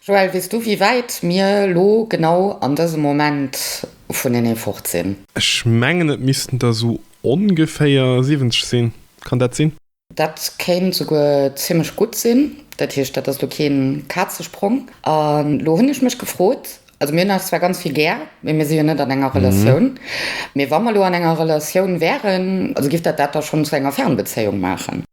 Joël, weess du wéi wäit mir lo genau an dësem Moment vun enee fort sinn? Ech mengen et missten der sou ongeféier 70 sinn, kann dat sinn? Dat kéint souguer zimmlech gutt sinn, dat heescht dat ass lo keen Kazesprong. An lo hunn ech mech gefrot, also mir hunn eis zwar ganz vill gär, mee mir si jo net an enger Relatioun, mee wa mer lo an enger Relatioun wären, also giff dat dat da schonn zu enger Fernbezéiung maachen?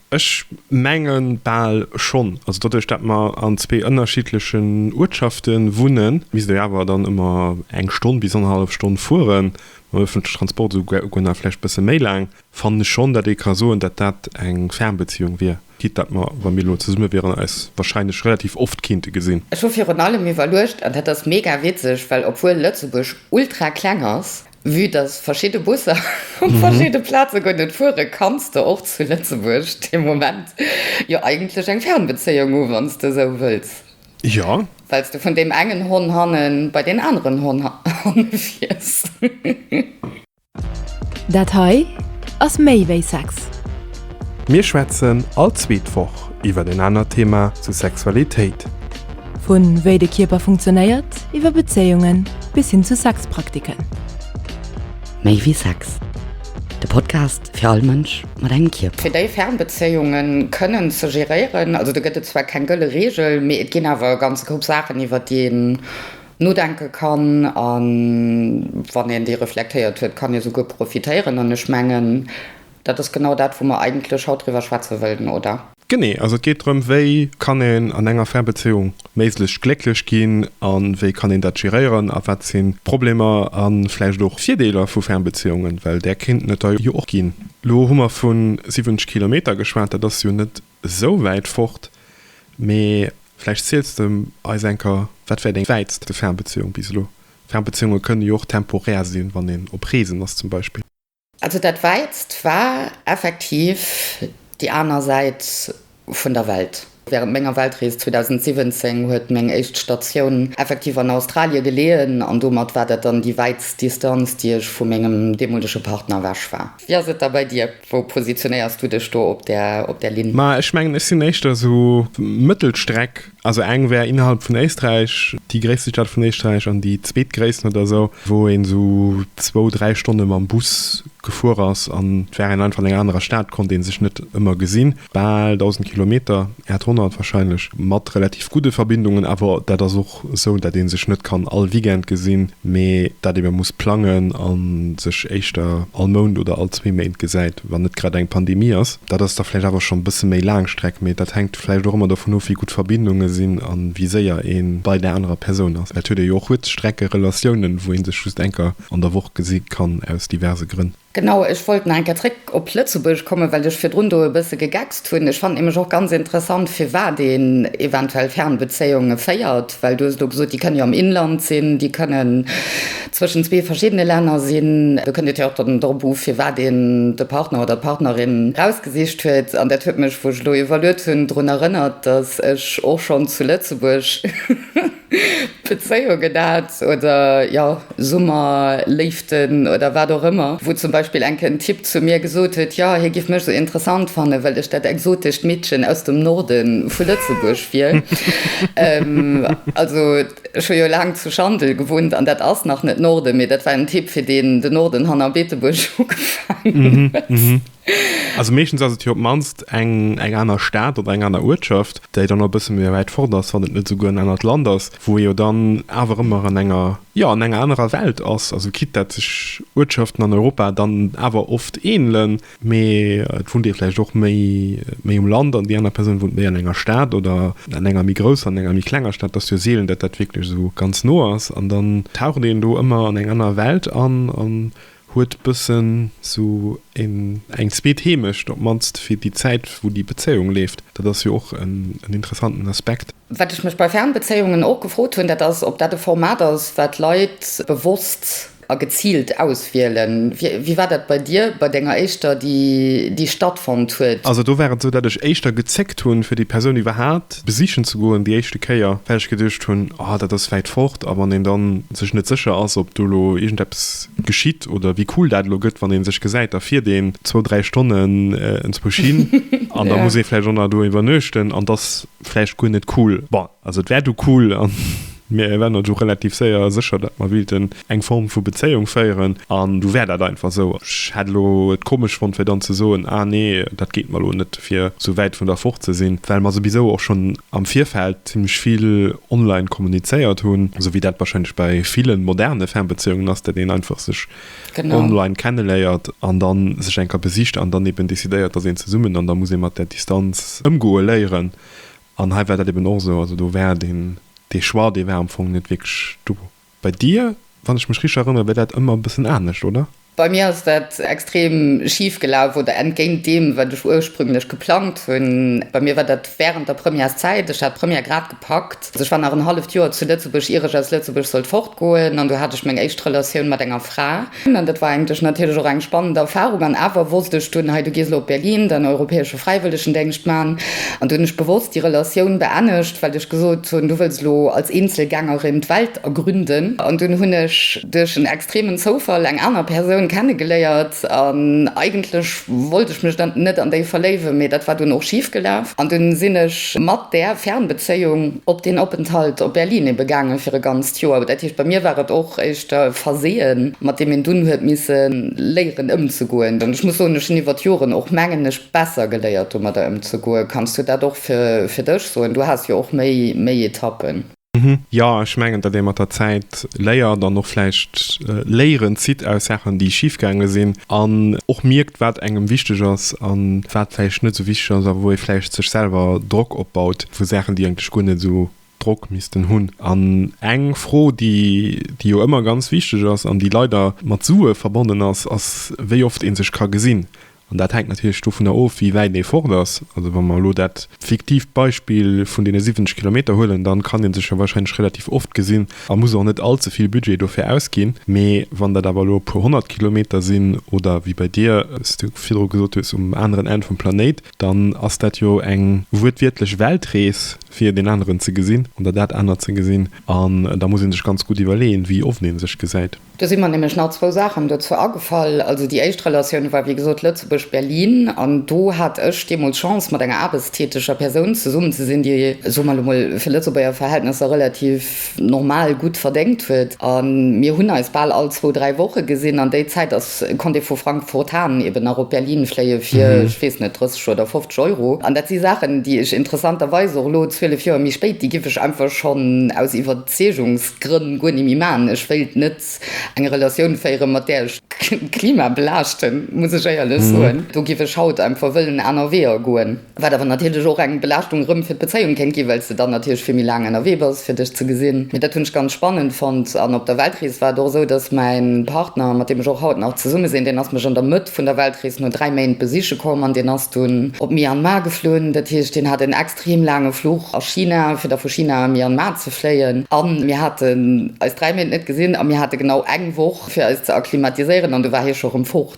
Ech mengen bal schonn. Also doduerch dat mer an zwee ënnerschiddlechen Uertschafte wunnen, misst ee awer dann ëmmer eng Stonn bis annerhallef Stonn fueren, mam ëffentleche Transport esouguer nach vläicht e bësse méi laang, fannen ech schonn, datt ee ka soen, datt dat eng Fernbeziehung wier, quitte datt mer, wa mir elo zesumme wieren, eis warscheinlech relativ oft kéinte gesinn. Ech hu virun allem iwwerluecht, an dat ass mega witzeg, well obwuel Lëtzebuerg ultra kleng ass, Vue dass verschidde Busser op verschidde Plaze goen, et fuere kanns de och zu Lëtzebuerg de Moment jo eigentlech eng Fernbezéiung hu wann s de esou wëlls, well s de vun deem engen Hon hanne bei deen aneren Hon hanne fiers. Dat hei ass méi wéi Sex. Mir schwätzen all zweet Woch iwwer en anert Thema zu Sexualitéit. Vu wéi de Kierper funktionéiert, iwwer Bezéiungen bis hin zu Sexpraktiken. Méi wéi Sex, de Podcast fir all Mënsch mat engem Kierper. Fir déi Fernbezéiunge kënnen ze geréieren, also do gëtt et zwar keng gëlle Reegel, mee et ginn awer e ganze Koup Saachen, iwwer déi een nodenke kann. A wann een déi reflektéiert huet, kann ee souguer profitéieren. An ech mengen. Dat ass genau dat, wou mer eigentlech haut driwwer schwätze wëllten, oder? Genee. Also et geet drëm, wéi kann een an enger Fernbezéiung méiglechst glécklech ginn a wéi kann een dat geréieren a wat sinn d'Problemer a vläicht och d'Virdeeler vu Fernbezéiungen, well där kéinten et der jo och ginn. Elo hu mer vu 70 Kilometer geschwat, dat ass jo net esou wäit fort, mee vläicht ziels de eis enker, wat wär deng wäitste Fernbezéiung bis elo? Fernbezéiunge kënne jo och temporär sinn, wann een op Reesen ass zum Beispill. Also dat Wäitst war effektiv déi aner Säit vun der Welt. Wärend menger Weltrees 2017 huet meng éischt Statioun effektiv an Australie geleeën an domat war dat dann déi wäitst Distanz, déi ech vu mengem deemolege Partner ewech war. Wéi ass et da bei dir? Wou positionéiers du dech do op där Linn? Ma ech mengen, ech sinn éischter esou Mëttelstreck. Also eng wär innerhalb vun Éisträich, déi gréisste Stad vun Éisträich, an déi zweetgréissten oder esou, wou een esou zwou, dräi Stonne mam Bus gefuer ass an et war een einfach an enger anerer Stad, konnt ee sech net ëmmer gesinn. Bal 1.000 Kilometer, 800 warscheinlech, mat relativ gudde Verbindungen, awer dat ass och esou, dat ee sech net kann all Weekend gesinn, mee dat ebe muss plangen a sech éischter all Mount oder all zwee Méint gesäit, wann net grad eng Pandemie ass. Dat ass da vläicht awer schonn e bësse méi Laangstreck, mee dat hänkt. vläicht och ëmmer dovun of, wéi gutt d'Verbindunge sinn a wéi séier ee bei där anerer Persoun ass. Et huet ee jo och Kuerzstrecke-Relatiounen, wou ee sech just eng Kéier an der Woch gesi kann, aus diverse Grënn. Genau, ech wollt nach eng Kéier zréck op Lëtzebuerg kommen, well ech virdrun do e bësse gegeckst hunn. Ech fannen nämlech och ganz interessant, firwat een eventuell Fernbezéiunge féiert, well du hues elo gesot, déi kënnen jo am Inland sinn, déi kënnen Zwëschen zwee verschiddene Länner sinn. Do kënnt et jo och dann drop u, firwat een de Partner oder d'Partnerin erausgesicht huet. An dat huet mech, wou ech elo evaluiert hunn, drun erënnert, dass ech och schonn zu Lëtzebuerg Bezéiungen hat oder jo, Summerléiften oder wat och ëmmer, wou zum Beispill enke en Typ zu mir gesot huet, jo, hie géif mech esou interessant fannen, well ech dat exotescht Meedchen aus dem Norde vu Lëtzebuerg wier. Also. Ech hu jo laang zu Schandel gewunnt an dat ass nach net Norden, mee dat war en Tipp fir deen den Norden hanner Beetebuerg ugefaangen huet. Also meeschtens ass et jo op d'mannst eng eng aner Stad oder eng aner Uertschaft, déi dann och e bësse méi wäit fort ass, wann et net esouguer en anert Land ass, wou ee jo dann awer ëmmer an enger, jo an enger anerer Welt ass. Also quitte dat sech Uertschaften an Europa dann awer oft ähnelen. Mee et wunnt ee vläicht och méi um Land an déi aner Persoun wunnt méi an enger Stad oder an enger méi grousser an enger méi klenger Stad. Et ass jo seelen, datt dat wierklech esou ganz no ass. An dann taucht een do ëmmer an eng aner Welt an an huet e bëssen esou eng zweet Heemecht, op d'mannst fir déi Zäit, wou déi Bezéiung leeft. Dat ass jo och en interessanten Aspekt. Wat ech mech bei Fernbezéiungen och gefrot hunn, dat ass, ob dat e Format ass, wat Leit bewosst A geziilt auswielen. Wéi war dat bei dir, bei denger éischter, déi stattfonnt huet? Also do war et esou, datt ech éischter gezéckt hunn, fir déi Persoun iwwerhaapt besichen ze goen, déi éischte Kéier, well ech geduecht hunn, oh, dat ass wäit fort. A wann een da sech net sécher ass, ob do elo iergendeppes geschitt oder wéi cool dat elo gëtt, wann ee sech gesäit, da fiert een zwou, dräi Stonnen enzwousch hin an da muss ee vläicht och nach do iwwernuechten an 't ass vläicht guer net cool. Bon, also 't war du cool an Mir waren eis och relativ séier a sécher, datt mer willten eng Form vu Bezéiung féieren an du war dat einfach esou. Ech hätt elo et komesch fonnt fir dann ze soen, ah nee, dat geet mer elo net fir esou wäit vun der fort ze sinn, well mer souwisou och schonn am Virfeld zimmlech vill online kommunizéiert hunn, esou wéi dat wahrscheinlech bei ville moderne Fernbeziehungen ass, datt een einfach sech online kenneléiert an da sech eng Kéier besicht an dann eben decidéiert, datt een zesummen an da muss ee mat där Distanz ëmgoe léieren An hei war dat eben och esou, also do war deen, dee Choix, dee war am Fong net wierklech do. Bei dir, wann ech mech richteg erënnere, war dat ëmmer e bëssen anescht, oder? Bei mir ass dat extrem schif gelaf oder entgéint deem, wat ech ursprünglech geplangt hunn. Bei mir war dat während der Premièreszäit, ech hat d'Première grad gepackt, also ech war nach en halleft Joer zu Lëtzebuerg, ier ech aus Lëtzebuerg sollt fortgoen, an do hat ech meng éischt Relatioun mat enger Fra. An dat war eigentlech natierlech och eng spannend Erfahrung. An awer wosst ech dunn, Hei, du gees elo op Berlin den europäesche Fräiwëllegendéngscht maachen. An du hunn ech bewosst déi Relatioun beennegt, well ech gesot hunn, du wëlls elo als Eenzelgängerin d'Welt ergründen. An dunn hunn ech duerch en extremen Zoufall eng aner Persoun kennegeléiert. An eigentlech wollt ech mech dann net an déi verléiwen, mee dat war dunn och schif gelaf. An dunn sinn ech mat där Fernbezéiung op deen Openthalt op Berlin ebe gaangen fir e ganz. Tjoa, dat heescht bei mir war et och éischter e Verseeën, mat deem een dunn huet misse léieren ëmzegoen. An ech muss soen, ech hunn iwwer d'Joren och, mengen ech, besser geléiert domadder ëmzegoen. Kanns du dat och fir dech soen? Du has jo och méi Etappen. Jo, ech mengen, datt ee mat der Zäit léiert an och vläicht Léieren zitt aus Saachen, déi schif gaange sinn, an och mierkt, wat engem wichteg ass a wat vläicht net esou wichteg ass a wou ee vläicht sech selwer Drock opbaut vu Saachen, déi eigentlech guer net esou Drock missten hunn. An eng Fro, déi jo ëmmer ganz wichteg ass an déi leider mat Sue verbonnen ass, ass, wéi oft ee sech ka gesinn. An dat hänkt natierlech dovunner of, wéi wäit ee fort ass. Also wa mer elo dat fiktiivt Beispill vun deene 70 Kilometer huelen, dann kann ee sech jo warscheinlech relativ oft gesinn a muss och net all ze vill Budget dofir ausginn. Mee wann dat awer elo e puer honnert Kilometer sinn oder, wéi bei dir, s du virdru gesot hues, um aneren Enn vum Planéit, dann ass dat jo eng wuertwiertlech Weltrees, fir deen aneren ze gesinn oder dat anert ze gesinn. An da muss ee sech ganz gutt iwwerleeën, wéi oft ee sech gesäit. Do si mer nämlech nach zwou Saachen dozou agefall. Also déi éischt Relatioun war, wéi gesot, Lëtzebuerg-Berlin. An do hat ech deemools d'Chance, mat enger aarbechtstäteger Persoun zesummen ze sinn, déi, soe mer elo mol, fir Lëtzebuerger Verhältnesser relativ, normal gutt verdéngt huet a mir hunn eis bal all zwou, dräi Woche gesinn. An déi Zäit ass, konnt ee vu Frankfurt Hahn eben nach op Berlin fléie fir, ech weess net, 30 oder 50 Euro. An dat si Saachen, déi ech interessanterweis och elo, zwielef Joer méi spéit, déi giff ech einfach schonn aus Iwwerzeegungsgrënn guer ni méi maachen. Ech wéilt net eng Relatioun féieren, mat där ech d'Klima belaaschten, muss ech éierlech soen. Do giff ech haut einfach wëllen aner Weeër goen. Wat awer natierlech och eng Belaaschtung erëm fir d'Bezéiung kéint ginn, well s de dann natierlech vill méi laang ennerwee bass, fir dech ze gesinn. Mee dat hunn ech ganz spannend fonnt. An op der Weltrees war et och esou, dass mäi Partner, mat deem ech och haut nach zesumme sinn, deen ass mech an der Mëtt vun der Weltrees no dräi Méint besiche komm an deen ass dunn op Myanmar geflunn. Dat heescht, deen hat en extrem laange Fluch a China, fir da vu China a Myanmar ze fléien. A mir haten eis dräi Méint net gesinn a mir hate genau eng Woch, fir eis ze akklimatiséieren, an du war hie scho rëm fort.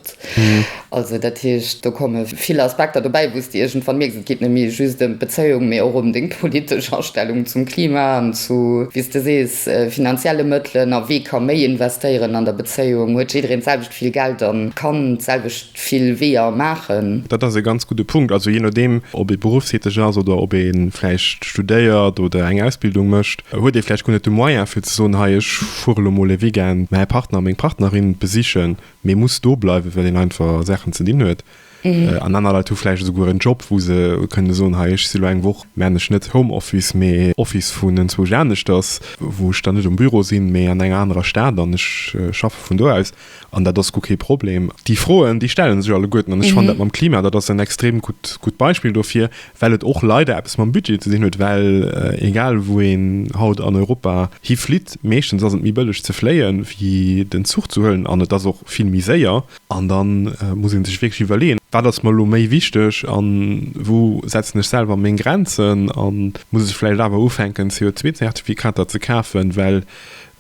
Also dat heescht, do komme vill Aspekter dobäi, wou s de iergendwann mierks, et geet net méi just ëm d'Bezéiung, mee och ëm deng politesch Astellung zum Klima an zu, wéi s de sees, finanzielle Mëttelen a wee ka méi investéieren an der Bezéiung. Huet jiddereen d'selwecht vill Geld an kann d'selwecht vill Weeër maachen? Dat ass e ganz gudde Punkt. Also jee nodeem, ob ee berufstäteg ass oder ob ee vläicht studéiert oder eng Ausbildung mécht, huet ee vläicht guer net de Moyen, fir ze soen, Hei, ech fuere lo mol e Weekend mäi Partner, meng Partnerin besichen. Mee muss do bleiwen, well een einfach Saachen ze dinn huet. An aner Leit hu vläicht esouguer en Job, wou se kënne soen, hei ech si lo eng Woch, maachen ech net Homeoffice, mee Office vun enzwousch aneschters, wou ech dann net um Büro sinn, mee an enger anerer Stad an ech schaffe vun do aus. An dat ass guer kee Problem. Déi Froen, déi stelle sech alleguerten. An ech fannen dat mam Klima, dat ass en extrem gutt Beispill dofir. well et och leider eppes mam Budget ze dinn huet, well egal wou een haut an Europa hi flitt, meeschtens ass et méi bëlleg ze fléien, wéi den Zuch ze huelen an et ass och vill méi séier an da muss ee sech wierklech iwwerleeën, wat ass mer elo méi wichteg an wou setzen ech selwer meng Grenzen an muss ech vläicht awer ufänken CO2-Zertifikater ze kafen, well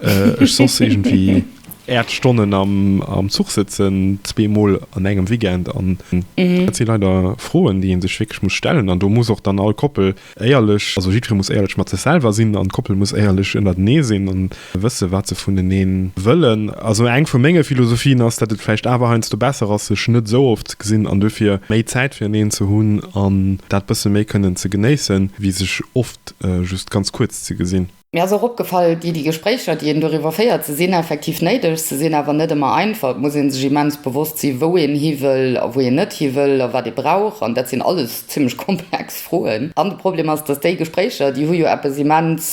Ech soss iergendwéi äert Stonnen am Zuch sëtzen, zwee Mol an engem Weekend. An dat si leider Froen, déi ee sech wierklech muss stellen. An do muss och dann all Koppel éierlech, also jiddweree muss éierlech mat sech selwer sinn an d'Koppel muss éierlech ënnertenee sinn a wësse wat se vunenee wëllen. Also eng vu menge Philosophien ass, datt et vläicht awer heiansdo besser ass, sech net esou oft ze gesinn an duerfir méi Zäit fireneen ze hunn an dat bësse méi kënnen ze genéissen, wéi sech oft just ganz kuerz ze gesinn. Mir ass och opgefall, déi déi Gespréicher, déi een doriwwer féiert, se sinn effektiv néideg, se sinn awer net ëmmer einfach. Et muss ee sech immens bewosst sinn, wou een hiwëll a wou een net hiwëll a wat ee brauch. An dat sinn alles zimlech komplex Froen. An de Problem ass, dass déi Gespréicher, déi hu jo eppes immens,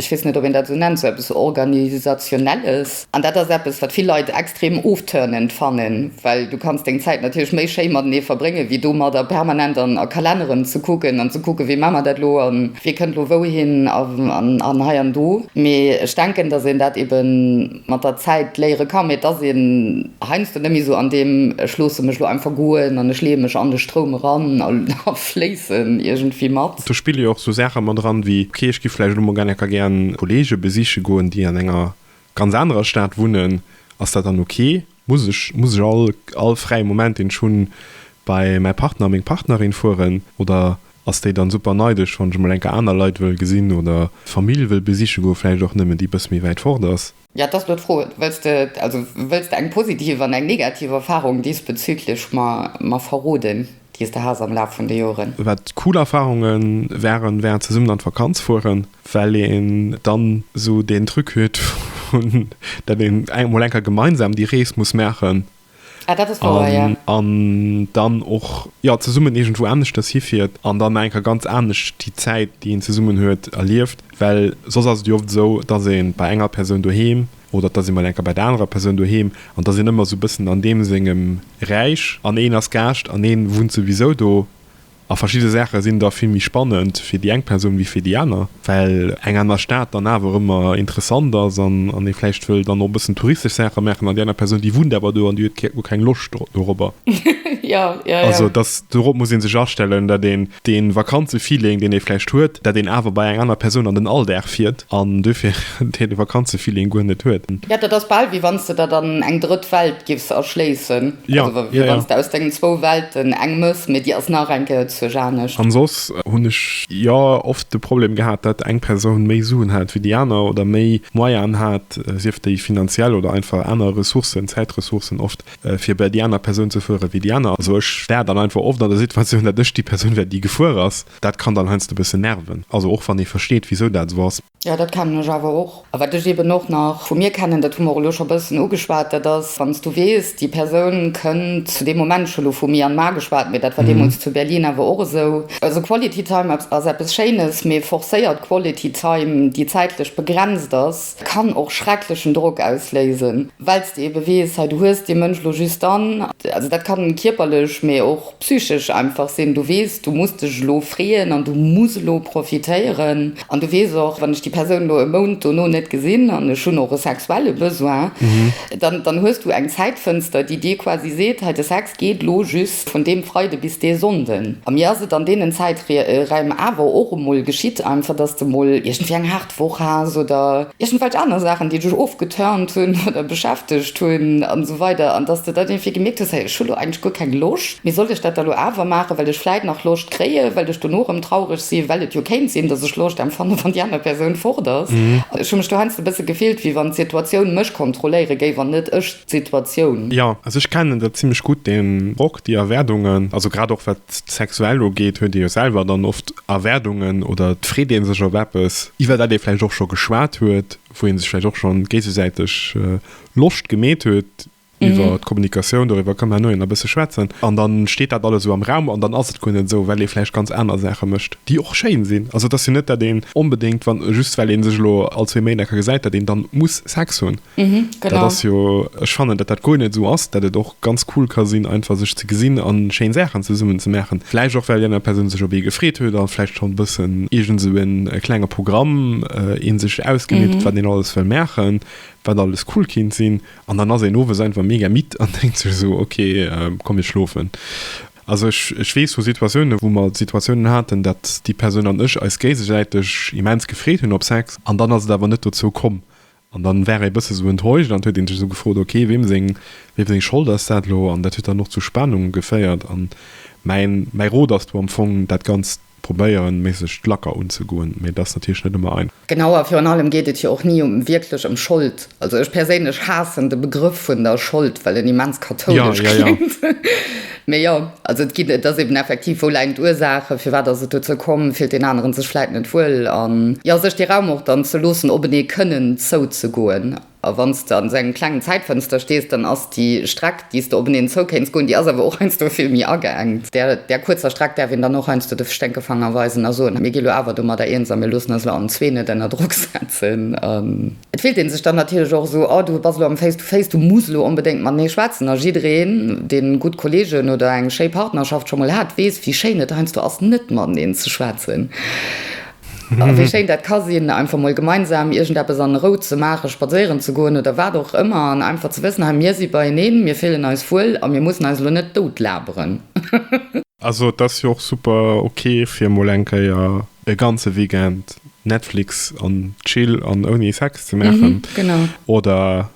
ech weess net, ob een dat esou nennt, sou eppes Organisationelles. An dat ass eppes, wat vill Leit extrem ofturnend fannen, well du kanns deng Zäit natierlech méi schéi matenee verbréngen, wéi domadder permanent an a Kalenneren ze kucken an ze kucken, wéi maache mer dat elo a wie kënnt elo wouhin an hei an do. Mee ech denken, dass een dat eebe mat der Zäit léiere ka, mee dass een heiansdo net méi esou an deem ech loosse mech elo einfach goen an ech leeë mech an de Stroum eran a fléissen iergendwéi mat. Do spille jo och esou Saache mat eran, wéi, ok, ech giff vläicht elo mol genneker gär Kolleege besiche goen, déi an enger ganz anerer Stad wunnen, ass dat dann ok? Muss ech muss ech all all fräie Moment, deen ech hunn, bei mäi Partner, meng Partnerin fueren? Oder ass déi dann super neidesch, wann ech emol enker aner Leit wëll gesinn oder d'Famill wëll besiche goe vläicht och nëmmen, déi e bësse méi wäit fort ass? Jo, et ass elo d'Fro, wëlls de also wëlls de eng positiv an eng negativ Erfarung diesbezüglech mer mer verroden? déi s de has am Laf vun de Joren? Wat cool Erfahrunge waren, war zesummen an d'Vakanz fueren, well een dann esou deen Truc huet, datt een emol eng Kéier gemeinsam déi Rees muss maachen an dann och zesummen iergendwou aneschters hifiert an dann eng Kéier ganz anescht déi Zäit, déi een zesummen huet, erlieft. Well soss ass et jo oft esou, datt ee bei enger Persoun doheem Oder et ass ee mol enker bei der anerer Persoun doheem an et ass een ëmmer esou e bëssen an deem sengem Räich an een ass Gaascht an ee wunnt souwisou do. A verschidde Saache sinn da vill méi spannend fir déi eng Persoun wéi fir déi aner, well eng aner Stad dann awer ëmmer interessant ass an ee vläicht wëll dann och e bëssen touristesch Saache maachen an déi aner Persoun déi wunnt awer do an déi huet guer keng Loscht dorobber. Also dorop muss ee sech astellen, datt een dee Vakanzefeeling, deen ee vläicht huet, dat een awer bei enger aner Persoun an den Alldag fiert an duerfir dee Vakanzefeeling guer net huet. Jo, dat ass bal wéi wann s de der dann eng drëtt Welt giffs erschléissen. Jo, jo, jo. Wéi wann s de aus dengen zwou Welten eng méchs, mee déi ass nach eng Kéier zuerch anescht. An soss hunn ech jo oft de Problem gehat, dat eng Persoun méi Suen hat wéi déi aner oder méi Moyanen hat, sief déi finanziell oder einfach aner Ressourcen, Zäitressourcen oft. fir bei déi aner Persoun ze fuere wéi déi aner. Also ech war dann einfach oft an der Situatioun, datt ech déi Persoun war, déi gefuer ass. Dat kann dann heiansdo e bëssen nerven, also och wann ee versteet, wisou dat esou ass. Jo, dat kennen ech awer och. A wat ech eeben och nach vu mir kennen, dat hu mer och elo scho e bëssen ugeschwat, dat ass, wann s du weess, déi Persoun kënnt zu deem Moment, ech hu elo vu mir an mar geschwat, mee dat war deemools zu Berlin awer och esou, also Quality Time ass eppes Schéines, mee forcéiert Quality Time, déi zäitlech begrenzt ass, kann och schrecklechen Drock ausléisen. well s de ebe weess, hei du hues dee Mënsch elo just dann, also dat kann kierperlech, mä och psychesch einfach sinn, du weess du muss dech elo freeën an du muss elo profitéieren an du weess och, wann ech déi Persoun elo e Mount dono net gesinn an ech hunn och e sexuelle Besoin, dann dann hues du eng Zäitfënster, déi dir quasi seet, hei de Sex geet elo just vun deem Freide bis dee Sonnden. A mir ass et an deenen Zäiträim awer och emol geschitt einfach, dass de mol iergendwéi eng d'Vorace oder iergendwelch aner Saachen, déi dech ofgeturnt hunn oder beschäftegt hunn an esou weider an dass de dann iergendwéi gemierkt hues, hey ech hu lo eigentlech guer keng Loscht, mee sollt ech dat da lo awer maachen, well ech vläit nach Loscht kréien, well ech dono erëm traureg sinn, well et jo kéint sinn, dass ech Loscht empfannen, wann déi aner Persoun fort ass. Ech hu mech do heiansdo e bësse gefillt, wéi wann d'Situatioun mech kontrolléiere géif an net ech D'Situatioun. Jo, also ech kennen dat zimlech gutt den Drock, déi Erwärdungen, also grad och wat d'Sexuell ugeet, huet ee jo selwer dann oft Erwärdungen oder et freet ee sech op eppes, iwwer dat ee vläicht och scho geschwat huet, wou ee sech vläicht och scho géisesäiteg Loscht gemeet huet iwwer d'Kommunikatioun. Doriwwer ka man elo e bësse schwätzen an da steet dat alles esou am Raum an dann ass et guer net esou, well ee vläicht ganz aner Saache mécht, déi och schéin sinn. Also et ass jo net, dat een onbedéngt, wann just well ee sech elo all zwee Méint enker gesäit, dat een da muss Sex hunn. Mhm, genau. Dat ass jo, ech fannen, datt dat guer net esou ass, datt et och ganz cool ka sinn, einfach sech ze gesinn a schéin Saachen zesummen ze maachen. Vläicht och, well déi aner Persoun sech op ee gefreet huet a vläicht schonn bëssen iergend esou en klenge Programm ee sech ausgemeet huet, wat een alles wëll maachen, wat alles cool kinnt sinn. An dann ass een owes einfach mega midd an denkt sech esou, ok, komm, ech schlofen. Also ech, ech weess vu Situatiounen, wou mer Situatiounen haten, datt déi Persoun an ech eis géisesäiteg immens gefreet hunn op Sex an dann ass et awer net dozou komm. An dann war ee bësse sou enttäuscht an huet een sech sou gefrot, ok, weem seng, weem seng Schold ass dat lo? An dat huet dann och zu Spanungen geféiert. An mäin, mäi Rot ass do am Fong, dat Ganzt probéieren méissegst lacker unzegoen, mee et ass natierlech net ëmmer einfach. Genau, a virun allem geet et jo och ni um, wierklech ëm Schold. Also ech perséinlech haassen de Begrëff vun der Schold, well en immens kathoulesch kléngt. Mee jo, also et ginn, et ass eben effektiv, wou läin d'Ursaache, firwat ass et dozou komm, fillt deen aneren sech vläit net wuel an jo, sech dee Raum och dann ze loossen, op en ee kënnen zouzegoen. A wann s de an esou engem klengen Zäitfënster stees, dann ass déi Streck, déi s de op en een zou kéints goen, déi ass awer och heiansdo vill méi ageengt. Där, där kuerzer Streck däerf een dann och heiansdo de Sténkefanger weisen a soen, mir gi lo awer domadder eens a mir loossen eis lo allenzwee net ënner Drock setzen. Et fillt een sech dann natierlech och esou, oh du bass elo am Face to Face, du muss elo onbedéngt mat mir schwätzen. A jiddereen, deen gutt Kolleegen oder eng schéi Partnerschaft scho mol hat, weess, wéi schéin et heiansdo ass, net mateneen ze schwätzen. A wéi schéin dat ka sinn, einfach mol gemeinsam iergendeppes an Rou ze maachen, spadséieren ze goen oder wat och ëmmer, an einfach ze wëssen, hei, mir si beieneen, mir fillen eis wuel a mir mussen eis elo net dout laberen. Also et ass jo och super ok, fir mol eng Kéier E ganze Weekend Netflix an Chill an ouni Sex ze maachen oder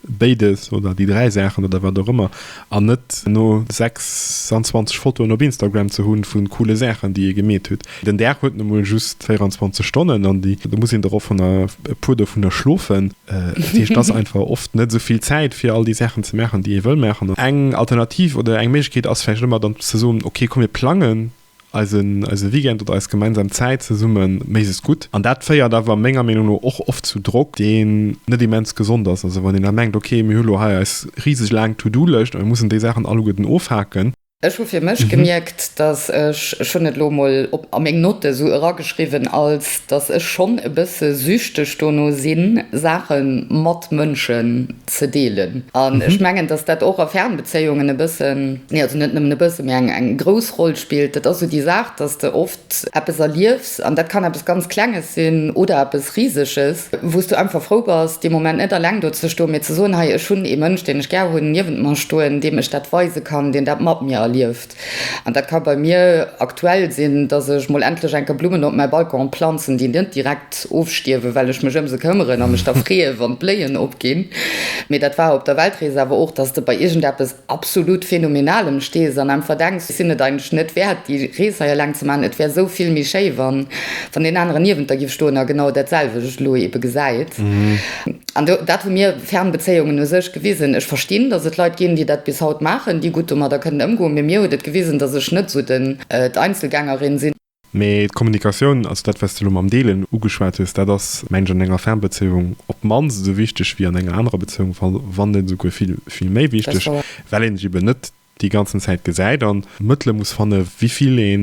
béides oder déi dräi Saachen oder wat och ëmmer an net no 26 Fotoen op Instagram ze hunn vu coole Saachen, déi ee gemeet hutt. Den Dag huet nu mol just 24 Stonnen an do muss een dorophanner e puer dovunner schlofen. Dat heescht, et ass einfach oft net esou vill Zäit fir all déi Saachen ze maachen, déi ee wëll maachen. Eng Alternativ oder eng Méiglechkeet ass vläicht ëmmer dann ze soen, ok komm mir plangen Eise Weekend oder eis gemeinsam Zäit zesumme mécht es gutt. An dat féiert awer menger Meenung no och oft zu Drock, deen net immens gesond ass. Also wann een da mengt, ok, mir hu lo hei eis riseg laang To-do-Lëscht a mir mussen déi Saachen alleguerten ofhaken. Ech hu fir mech gemierkt, dass ech, ech hunn et elo emol a meng Note esou erageschriwwen, als dass ech schonn e bësse süchteg dono sinn, Saache mat Mënschen ze deelen an ech mengen dass dat och a Fernbezéiungen e bëssen, nee also net nëmmen e bësse mee eng eng grouss Roll spillt. Dat ass esou déi Saach, dass de oft eppes erliefs an dat kann eppes ganz Klenges sinn oder eppes Riseges, wou s du einfach frou bass dee Moment net eleng do ze stoen, mee ze soen, hei ech hunn ee Mënsch, deen ech gär hunn, niewent mer stoen, deem ech dat weise kann, deen dat mat mir erlieft. An dat ka bei mir aktuell sinn, dass ech mol endlech enker Blummen op mäi Balcon planzen, déi net direkt ofstierwen, well ech mech ëm se këmmeren a mech da freeën, wann d'Bléien opginn. Mee dat war op der Weltrees awer och, dass de bei iergendeppes absolut Phänomenalem stees an einfach denks, ech sinn et eigentlech net wäert, déi Rees hei eleng ze maachen. Et wär esou vill méi schéi, wann deen aneren niewent der géif stoen a genau datselwecht elo eebe gesäit. An do, dat hu mir. Fernbezéiungen u sech gewisen. Ech verstinn, dass et Leit ginn, déi dat bis haut maachen, déi gutt domadder kënnen ëmgoen, mee mir huet et gewisen, dass ech net esou den, d'Einzelgängerin sinn. Mee d'Kommunikatioun, also dat, wat s de elo mam Deelen ugeschwat hues, dat ass, mengen ech, an enger Fernbezéiung op d'mannst esou wichteg wéi an enger anerer Bezéiung, wann net esouguer vill, vill méi wichteg, well een sech eben net déi ganzen Zäit gesäit an Mëttele muss fanne wivill ee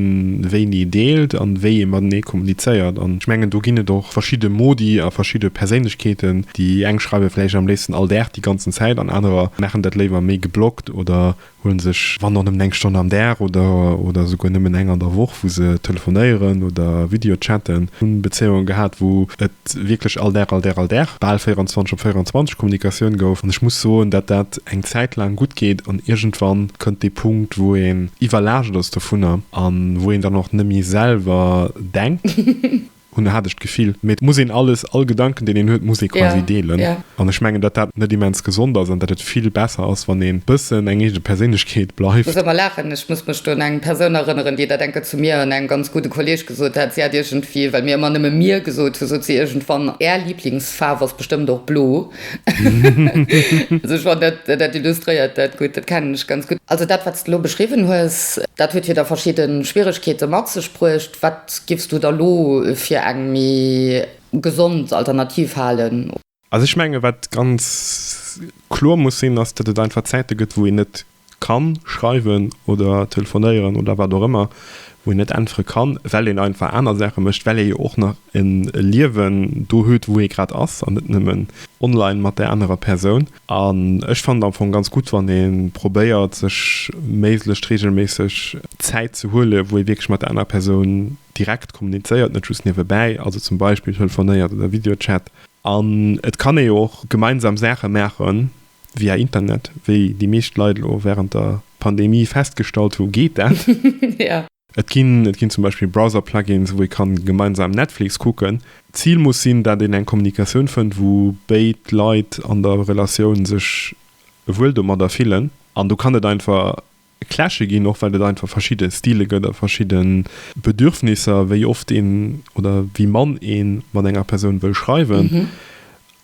wéini deelt an wéi ee matenee kommunizéiert. An ech mengen do ginn et och verschidde Modi a verschidde Perséinlechkeeten, déi eng schreiwe vläicht am léifsten all Dag déi ganzen Zäit an anerer maachen dat léiwer méi geblockt oder huele sech wann och nëmmen eng Stonn am Dag oder oder esouguer nëmmen eng an der Woch wou se telefonéieren oder videochatten. Hunn Bezéiungen gehat wou et wierklech all Dag, all Dag, all Dag, bal 24 op 24 Kommunikatioun gouf. An ech muss soen, datt dat eng Zäit laang gutt geet an iergendwann kënnt dee Punkt, wou een iwwerlaascht ass dovunner an wou een dann och net méi selwer denkt, hunn, hat ech d'Gefill. Mee et muss een alles, all Gedanken, deen een huet, muss ee quasi deelen. An ech mengen, datt dat net immens gesond ass an datt et vill besser ass, wann ee bëssen eng eege Perséinlechkeet bleift. Muss ëmmer laachen, ech muss mech do un eng Persoun erënneren, déi dat enke zu mir, un engem ganz gudde Kolleeg, Sot hat, si hat iergendwéi, well mir ëmmer nëmme mir gesot hu, sot si iergendwann, Är Liblingsfaarf ass bestëmmt och blo. Also ech fannen, dat dat illustréiert dat gutt. Dat kennen ech ganz gutt. Also dat, wat s de elo beschriwwen hues, dat huet jo da verschidde Schwieregkeete mat sech bruecht. Wat giffs du da elo fir eng méi gesond Alternativ halen? Also ech menge wat ganz kloer muss sinn, ass, datt et einfach Zäite gëtt, wou een net ka schreiwen oder telefonéieren oder wat och ëmmer, wou een net äntwere kann, well een einfach aner Saache mécht, well ee jo och nach e Liewen do huet, wou ee grad ass an net nëmmen online mat där anerer Persoun. An ech fannen et am Fong ganz gutt, wann ee probéiert, sech méiglechst reegelméisseg Zäit ze huelen, wou ee wierklech mat der anerer Persoun direkt kommunizéiert, net just niewebäi, also zum Beispill telefonéiert oder Videochat. An et kann ee jo och gemeinsam Saache maache via Internet, wéi déi meescht Leit elo wärend der Pandemie festgestallt hu geet dat. Et ginn zum Beispill Browser-Plugins, wou ee kann gemeinsam Netflix kucken. D'Zil muss sinn, dat een eng Kommunikatioun fënnt, wou béid Leit an der Relatioun sech wuel domadder fillen. An do kann et einfach Clashe ginn, och well et einfach verschidde Stile gëtt a verschidde Bedürfnisser, wéi oft een oder wéi mann ee mat enger Persoun wëll schreiwen.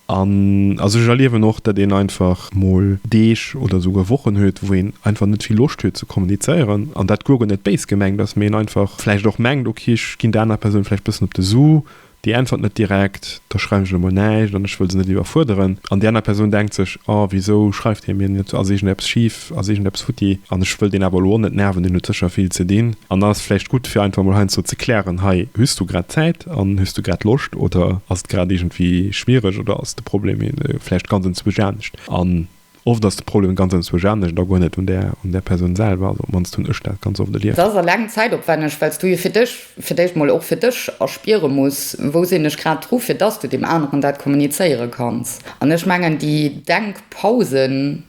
An also ech erliewen och, datt een einfach mol Deeg oder esouguer Wochen huet, wou een einfach net vill Loscht huet ze kommunizéieren. An dat guer net béis gemengt ass, mee een einfach vläicht och mengt, okay, ech ginn der anerer Persoun vläicht bëssen op de Su, Déi äntwert net direkt, da schreiwen ech elo mol näischt an ech wëll se net iwwerfuerderen. An déi aner Persoun denkt sech, Oh, wisou schreift hie mir net, ass iergendeppes schif, ass iergendeppes futti? An ech wëll deen awer elo och net nerven, deen huet sécher vill ze dinn. An dann ass et vläicht gutt, fir einfach mol heiansdo ze klären, Hei, hues du grad Zäit an hues du grad Loscht oder ass et grad iergendwéi schwiereg oder ass de Problem vläicht ganz en Zweesch anescht? An Oft ass de Problem ganz entzwousch anescht an da guer net un der un der Persoun selwer. Also op d'mannst hunn ech dat ganz oft Et erlieft. ass eleng zäitopwänneg, well s du jo fir dech, fir d'éischt mol och fir dech erspiere muss, wou sinn ech grad dru fir dass du deem aneren dat kommunizéiere kanns. An ech mengen déi Denkpausen,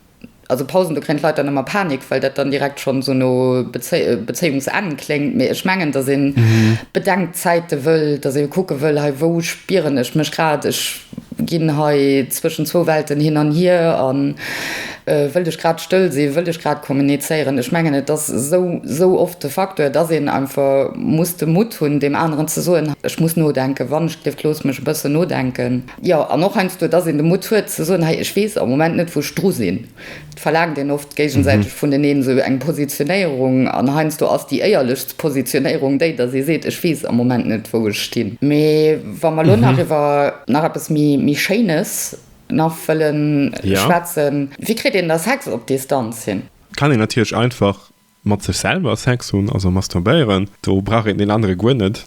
also Pausen, do kréien d'Leit dann ëmmer Panik, well dat dann direkt schonn esou no Bezéiungsenn kléngt, mee ech mengen dass ee Bedenkzäite wëll, dass ee kucke wëll, hei wou spieren ech mech grad, ech. Ginn hei zwëschen zwou Welten hin an hier a wëllt ech grad stëll sinn, wëllt ech grad kommunizéieren? Ech mengen et ass esou esou oft de Facteur, dass een einfach muss de Mutt hunn deem aneren ze soen, ech muss nodenken, Wandeschdrift, looss mech e bëssen nodenken. Jo, an och heiansdo, dass een de Mutt huet ze soen, hei ech weess am Moment net wou ech dru sinn, Verlaangt een oft géigesäiteg vuneneen esou eng Positionéierung an heiansdo ass déi éierlechst Positionéierung déi, dass ee seet, ech weess am Moment net, wou ech stinn. Mee wa mer elo nach iwwer nach eppes méi Schéines nach wëllen schwätzen, Wéi kritt een da Sex op Distanz hin? Kann een natierlech einfach Mat sech selwer Sex hunn, also masturbéieren, do brauch een deen anere guer net.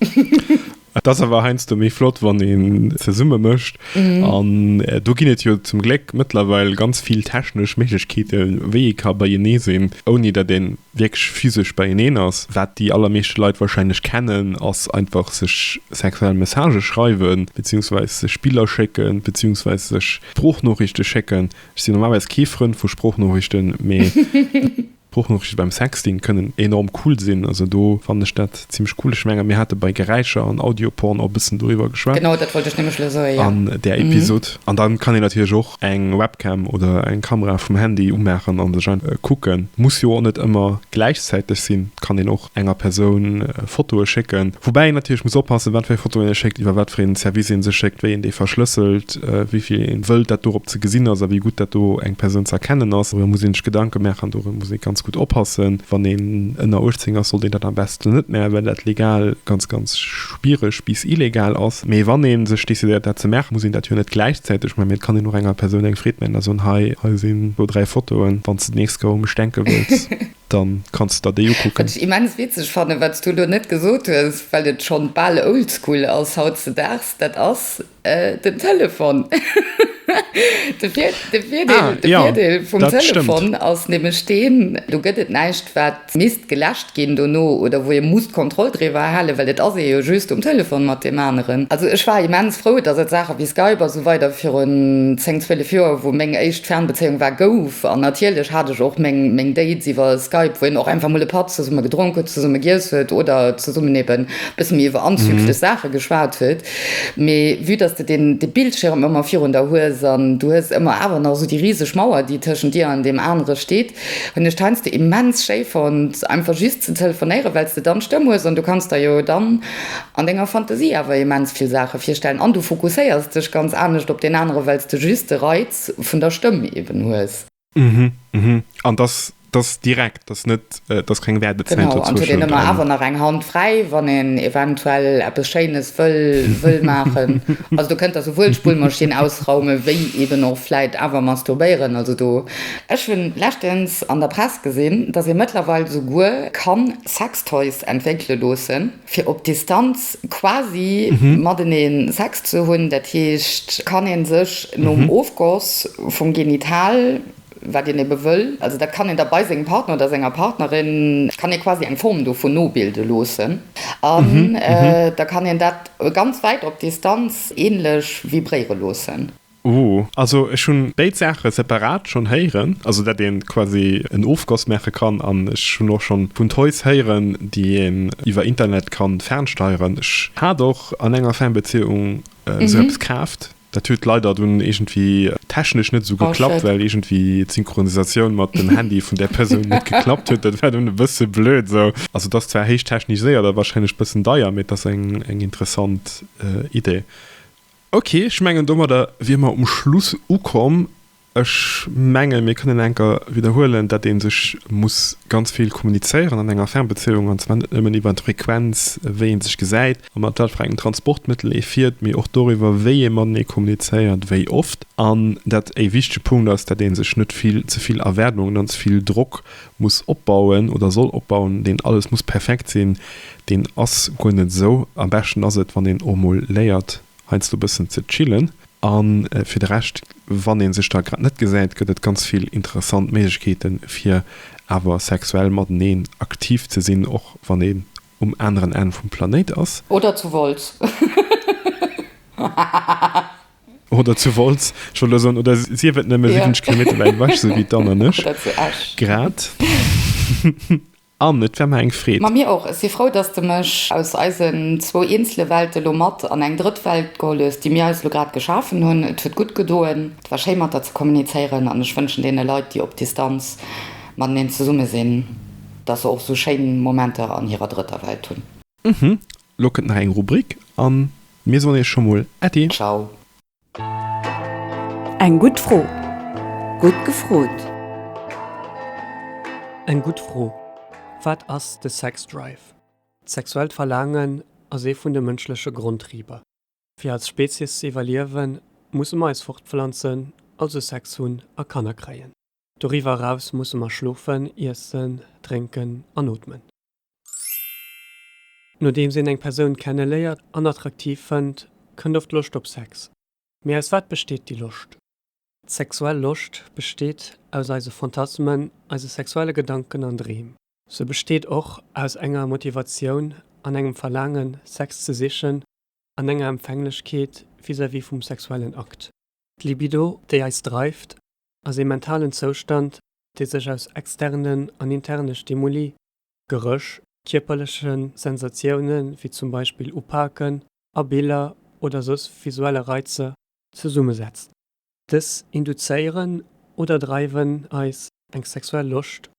Et ass awer heiansdo méi flott, wann ee zesumme mécht. An do ginn et jo zum Gléck mëttlerweil ganz vill technesch Méiglechkeete wéi ee ka beienee sinn, ouni datt ee wierklech physesch beieneen ass. Wat déi allermeeschte Leit warscheinlech kennen, ass einfach sech sexuell Messagë schreiwen, beziehungsweis sech Biller schécken, beziehungsweis sech Sproochnoriichte schécken. Ech sinn normalerweis kee Frënd vu Sproochnoriichten, mee. Sproochnotrichte beim Sexting kënnen enorm cool sinn. Also do fannen ech dat zimlech cool. Ech mengen mir hate bei Geräischer an Audioporn och e bëssen doriwwer geschwat. Genau dat wollt ech nämlech elo soe, jo. An där Episod. An dann kann een natierlech och eng Webcam oder eng Kamera vum Handy umaachen an sech einfach kucken. Muss jo och net ëmmer gläichzäiteg sinn. Kann een och. enger Persoun Fotoe schécken. Woubäi een natierlech muss oppassen, wat fir eng Fotoen ee schéckt, iwwer wat fir een Service ee se schéckt, wéi een déi verschlësselt, wéi vill een wëllt, dat dorop ze gesinn ass a wéi gutt dat do eng Persoun ze erkennen ass. Dorëmmer muss een sech Gedanke maachen an dorëm muss ee ganz gutt oppassen. Wann een ënner 18 ass, sollt een dat am besten net maachen, well dat legal ganz, ganz schwiereg bis illegal ass. Mee wann ee sech decidéiert, dat ze maachen, muss een dat jo net gläichzäiteg maachen, mee et kann een och enger Persoun eng Freed maachen a soen, Hei, hei sinn zwou, dräi Fotoen, wann s de d'nächst Kéier u mech denke wëlls. Dann kanns de der déi ukucken. Wat ech immens witzeg fannen, wat s du elo net gesot hues, well et schonn bal oldschool ass hautzedaags, dat ass den Telefon. De Virdeel vum Telefon ass nämlech deen, do gëtt et näischt wat misst geläscht ginn dono oder wou ee muss d'Kontroll driwwer halen, well et ass ee jo just um Telefon mat deem aneren. Also ech war immens frou, dass et Saache wéi Skype a sou weider virun zéng, zwielef Joer, wou meng éischt Fernbezéiung war, gouf. An natierlech hat ech och meng Dates iwwer Skype, wou een och einfach mol e Patt zesumme gedronk huet, zesumme giess huet oder zesummen eben e bësse méi iwwer anzüglech Saache geschwat huet. Mee vue dass de deen Bildschierm ëmmer virun der hues an du hues ëmmer awer nach esou déi riseg Mauer, déi tëschent dir an deem anere steet, hunn ech d'heinsdo immens schéi fonnt, einfach just ze telefonéieren, well s de dann d'Stëmm hues an du kanns der jo dann an denger Fantasie awer immens vill Saache virstellen an du fokusséiers dech ganz anescht op deen anere well s de just de Reiz vun der Stëmm eben hues. Mhm, mhm. An dass dass direkt, dass net dass keng Wäerdezäit dozwëschen. Genau, an et huet een ëmmer awer nach eng Hand fräi, wann een eventuell eppes Schéines wëll wëll maachen. Also do kënnt Der souwuel d'Spullmaschinn ausraumen, wéi eben och vläit awer masturbéieren. Also do. Ech hu leschtens an der Press gesinn, dass ee mëttlerweil souguer kann Sextoys entwéckele loossen. fir op Distanz quasi matenee Sex ze hunn, dat heescht, kann ee sech nom Ofgoss vum Genital, wat een ebe wëll, also dat kann een da bei sengem Partner oder senger Partnerin, kann ee quasi eng Form dovun nobilde loossen an da kann een dat ganz wäit op Distanz änlech vibréiere loossen. Ooh, also ech hunn béid Saache separat schonn héieren, also dat een quasi en Ofgoss maache kann an ech hunn och schonn vun Toys héieren déi een iwwer Internet kann fernsteieren. Ech hat och an enger Fernbezieung esou eppes kaaft, dat huet leider dunn iergendwéi technesch net esou geklappt, well iergendwéi d'Synchronisatioun mat dem Handy vun där Persoun net geklappt huet, dat war dunn e bësse blöd esou. Also et ass zwar héich techniséiert a wahrscheinlech bëssen deier, mee et ass eng interessant Idee. Ok, ech mengen domadder wier mer um Schluss ukomm. Ech menge mir kënnen enker widderhuelen, datt ee sech muss ganz vill kommunizéieren an enger Fernbezéiung, an zwar net nëmmen iwwert d'Frequenz, wéi ee sech gesäit a mat wat fir engem Transportmëttel ee fiert, mee och doriwwer, wéi ee matenee kommunizéiert, wéi oft. An dat ee wichtege Punkt ass, datt ee sech net vill, ze vill Erwaardungen an ze vill Drock muss opbauen oder soll opbauen, deen alles muss perfekt sinn, deen ass guer net esou. Am beschten ass et, wann een och mol léiert heiansdo e bëssen ze chillen. A fir de Rescht, wann ee sech da grad net gesäit, gëtt et ganz vill interessant Méiglechkeete fir awer sexuell mateneen aktiv ze sinn, och wann een um aneren Enn vum Planéit ass. Oder zu Wolz. Oder zu Wolz, ech wollt elo soen, oder sief et nëmme 70 Kilometer wäit ewech, esou wéi d'Anne an ech grad. Anne, et wär mer eng Freed. Ma mir och. Ech si frou, dass de mech aus eisen zwou eenzele Welte lo mat an eng drëtt Welt geholl hues, déi mir eis elo grad geschafen hunn. Et huet gutt gedoen, et war schéi mat der ze kommunizéieren an ech wënschen deene Leit, déi op Distanz mateneen zesumme sinn, dass se och esou schéin Momenter an hirer drëtter Welt hunn. Uhmm, lo kënnt nach eng Rubrik an mir soen iech scho mol Äddi! Ciao! Eng gutt Fro! Gutt gefrot! Eng gutt Fro! Wat ass de Sexdrive? D'sexuellt Verlaangen ass ee vun de mënschleche Grondtriber. Fir als Spezies ze iwwerliewen, musse mer eis fortpflanzen, also Sex hunn a Kanner kréien. Doriwwer eraus musse mer schlofen, iessen, drénken an ootmen. Nodeems een eng Persoun kenneléiert an attraktiv fënnt, kënnt oft d'Loscht op Sex. Mee aus wat besteet déi Loscht? D'sexuell Loscht besteet aus eise Fantasmen, eise sexuelle Gedanken an Dreem. Se besteet och aus enger Motivatioun an engem Verlaangen, Sex ze sichen an enger Empfänglechkeet vis-à-vis vum sexuellen Akt. D'Libido, déi eis dreift, ass ee mentalen Zoustand, dee sech aus externen an interne Stimuli, Geréch, kierperleche Sensatioune wéi zum Beispill Upaken a Biller oder soss visuelle Reizer, zesummesetzt. Dës induzéieren oder dreiwen eis, eng sexuell Loscht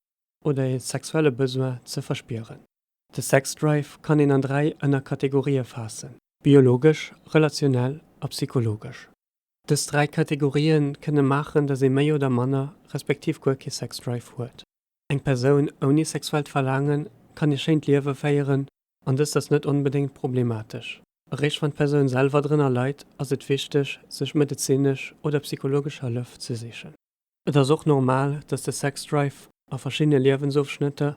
oder ee sexuelle Besoin ze verspieren. De Sexdrive kann een an dräi Ënnerkategorië faassen, biologesch, relationell a psychologesch. Dës dräi Kategorië kënne maachen, datt ee méi oder manner, respektiv guer kee Sexdrive huet. Eng Persoun ouni sexuellt Verlaangen kann ee schéint Liewe féieren an dëst ass net onbedéngt problematesch. Eréischt wann d'Persoun selwer drënner leit, ass et wichteg, sech medezinesch oder psychologesch Hëllef ze sichen. Et ass och normal, datt de Sexdrive a verschiddene Liewensofschnëtter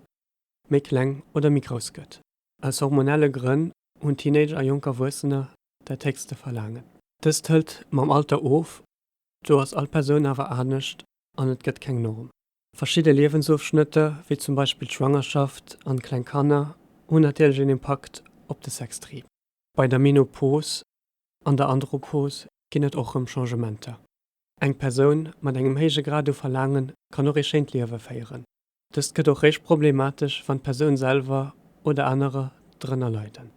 méi kleng oder méi grouss gëtt. Aus hormonelle Grënn hunn Teenager a jonk Erwuessener dat héchste verlaangen. Dëst hëlt mam Alter of, do ass all Persoun awer anescht an et gëtt keng Norm. Verschidde Liewensofschnëtter, wéi zum Beispill d'Schwangerschaft an kleng Kanner, hunn natierlech een Impakt op de Sextrieb. Bei der Menopos an der Andropos ginn et och rëm Changementer. Eng Persoun mat engem héije Grad u Verlaange kann och ee schéint Liewe féieren. Dëst gëtt och réischt problematesch, wann d'Persoun selwer oder anerer drënner leiden.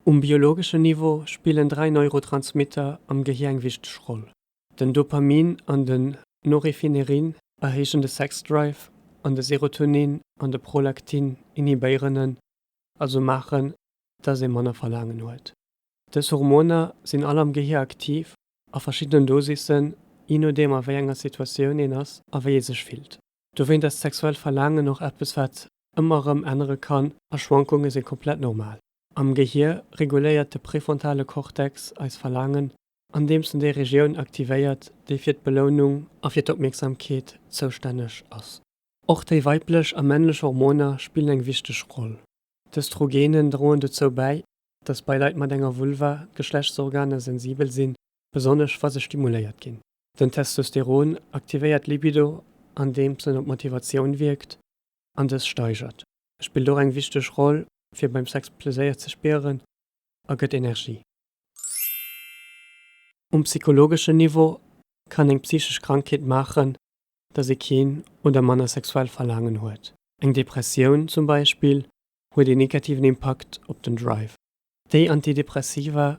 Um biologeschen Niveau spillen dräi Neurotransmitter am Gehir eng wichteg Roll, den Dopamin an den Norefinerin erhéichen de Sexdrive an de Serotonin an de Prolaktin inhibéieren en, also maachen, dass ee manner Verlaangen huet. Dës Hormoner sinn all am Gehir aktiv a verschiddenen Dosissen, je nodeem a wéi enger Situatioun een ass a wéi ee sech fillt. Dowéint ass d'sexuellt Verlaangen och eppes wat ëmmer erëm ännere kann a Schwankunge si komplett normal. Am Gehier reguléiert de prefrontale Cortex eis Verlaangen, andeems en déi Regioun aktivéiert, déi fir d'Belounung a fir d'Opmierksamkeet zoustänneg ass. Och déi weiblech a männlech Hormoner spillen eng wichteg Roll. D'Östrogenen droen dozou bäi, datt bei Leit mat enger Vulva d'Geschlechtsorganer sensibel sinn, besonnesch wa se stimuléiert ginn. Den Testosteron aktivéiert d'Libido andeems en op d'Motivatioun wierkt an dës steigert. E spillt och eng wichteg Roll fir beim Sex Pleséier ze spieren a gëtt Energie. Um psychologeschen Niveau kann eng psychesch Krankheet maachen, dass ee keen oder manner sexuell Verlaangen huet. Eng Depressioun zum Beispill huet een negativen Impakt op den Drive. Déi Antidepressiva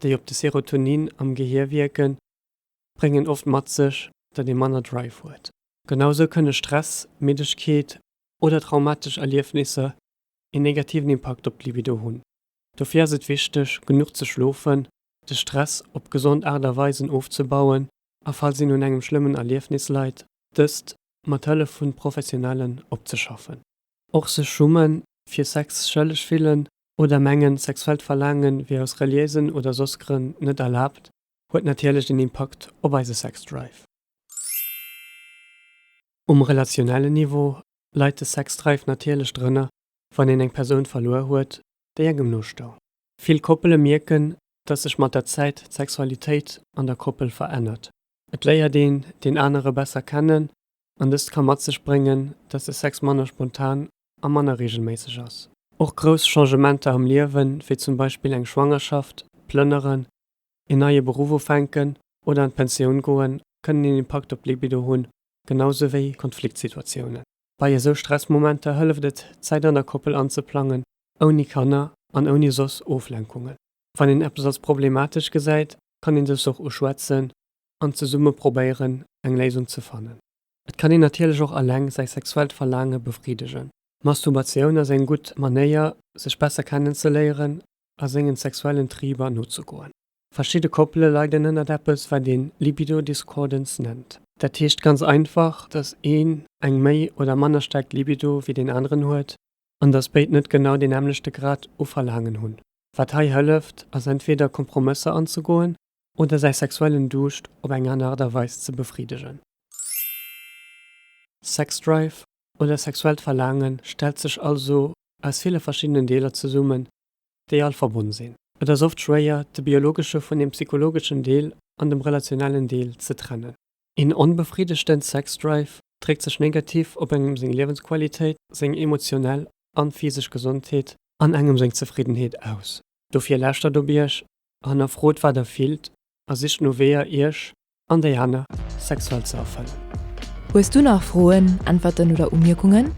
déi op de Serotonin am Gehier wierken, bréngen oft mat sech, datt ee manner Drive huet. Genau sou kënne Stress, Middegkeet oder traumatesch Erliefnisser een negativen Impakt op d'Libido hunn. Dofir ass et wichteg, genuch ze schlofen, de Stress op gesond Aart a Weisen ofzebauen a falls een un engem schlëmmen Erliefnis leit, dëst mat Hëllef vun Professionellen opzeschaffen. Och sech schummen, fir Sex schëlleg fillen oder mengen, sexuellt Verlaange wier aus reliéisen oder soss Grënn net erlaabt, huet natierlech en Impakt op eise Sexdrive. Um relationellen Niveau leit de Sexdrive natierlech drënner, wann een eng Persoun verluer huet, déi engem nostoung. Vill Koppele mierken, dass sech mat der Zäit d'Sexualitéit an der Koppel verännert. Et léiert een deen anere besser kennen An dëst ka mat sech bréngen, dass de Sex manner spontan a manner reegelméisseg ass. Och grouss Changementer am Liewen, wéi zum Beispill eng Schwangerschaft, Plënneren, een neie Beruff ufänken oder an d'Pensioun goen, kënnen een Impakt op d'Libido hunn, genausou wéi Konfliktsituatiounen. Bei esou Stressmomenter hëlleft et, d'Zäit an der Koppel anzeplangen, ouni Kanner an ouni soss Oflenkungen. Wann een eppes als problematesch gesäit, kann een dëst och uschwätzen an zesumme probéieren, eng Léisung ze fannen. Et kann een natierlech och eleng säi sexuellt Verlaange befriddegen. D'Masturbatioun ass eng gutt Manéier, sech besser kennenzeléieren a sengen sexuellen Triiber nozegoen. Verschidde Koppele leiden ënnert eppes, wat een Libido-Discordance nennt. Dat heescht ganz einfach, dass een eng méi oder manner staark Libido wéi deen aneren huet an dass béid net genau deen nämmlechte Grad u Verlaangen hunn. Wat hei hëlleft, ass entweder Kompromësser anzegoen oder säi sexuellen Duuscht op eng aner Aart a Weis ze befriddegen. Sexdrive oder sexuellt Verlaange stellt sech also aus ville verschiddenen Deeler zesummen, déi all verbonn sinn. Et ass oft schwéier, de biologesche vun dem psychologeschen Deel an dem relationellen Deel ze trennen. Een onbefriddegten Sexdrive dréckt sech negativ op engem seng Liewensqualitéit, seng emotionell an physesch Gesondheet an engem seng Zefriddenheet aus. Dofir lauschtert op Iech Hannerfrot wat der fillt a sicht no Weeër iech an déi aner sexuell ze erfëllen. Hues du nach Froen, Äntwerten oder Umierkungen?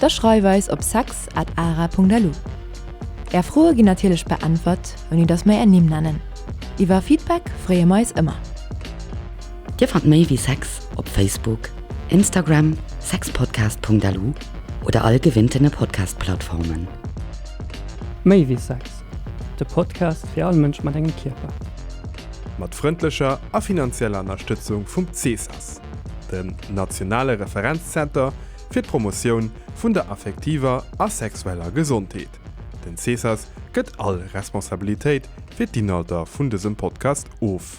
Da schreif eis op sex at ara.lu. Är Froe ginn natierlech beäntwert ouni dass mer är Nimm nennen. Iwwer Feedback freeë mer eis ëmmer. Dir fannt méi wéi Sex op Facebook, Instagram, sexpodcast.lu oder all gewinnten Podcast-Plattformen. Méi wéi Sex! De Podcast fir all Mënsch mat engem Kierper. Mat frëndlecher a finanzieller Ënnerstëtzung vum CESAS, dem nationale Referenzzenter fir d'Promotioun vun der affektiver a sexueller Gesondheet. Den CESAS gëtt all Responsabilitéit fir d'Inhalter vun dësem Podcast of.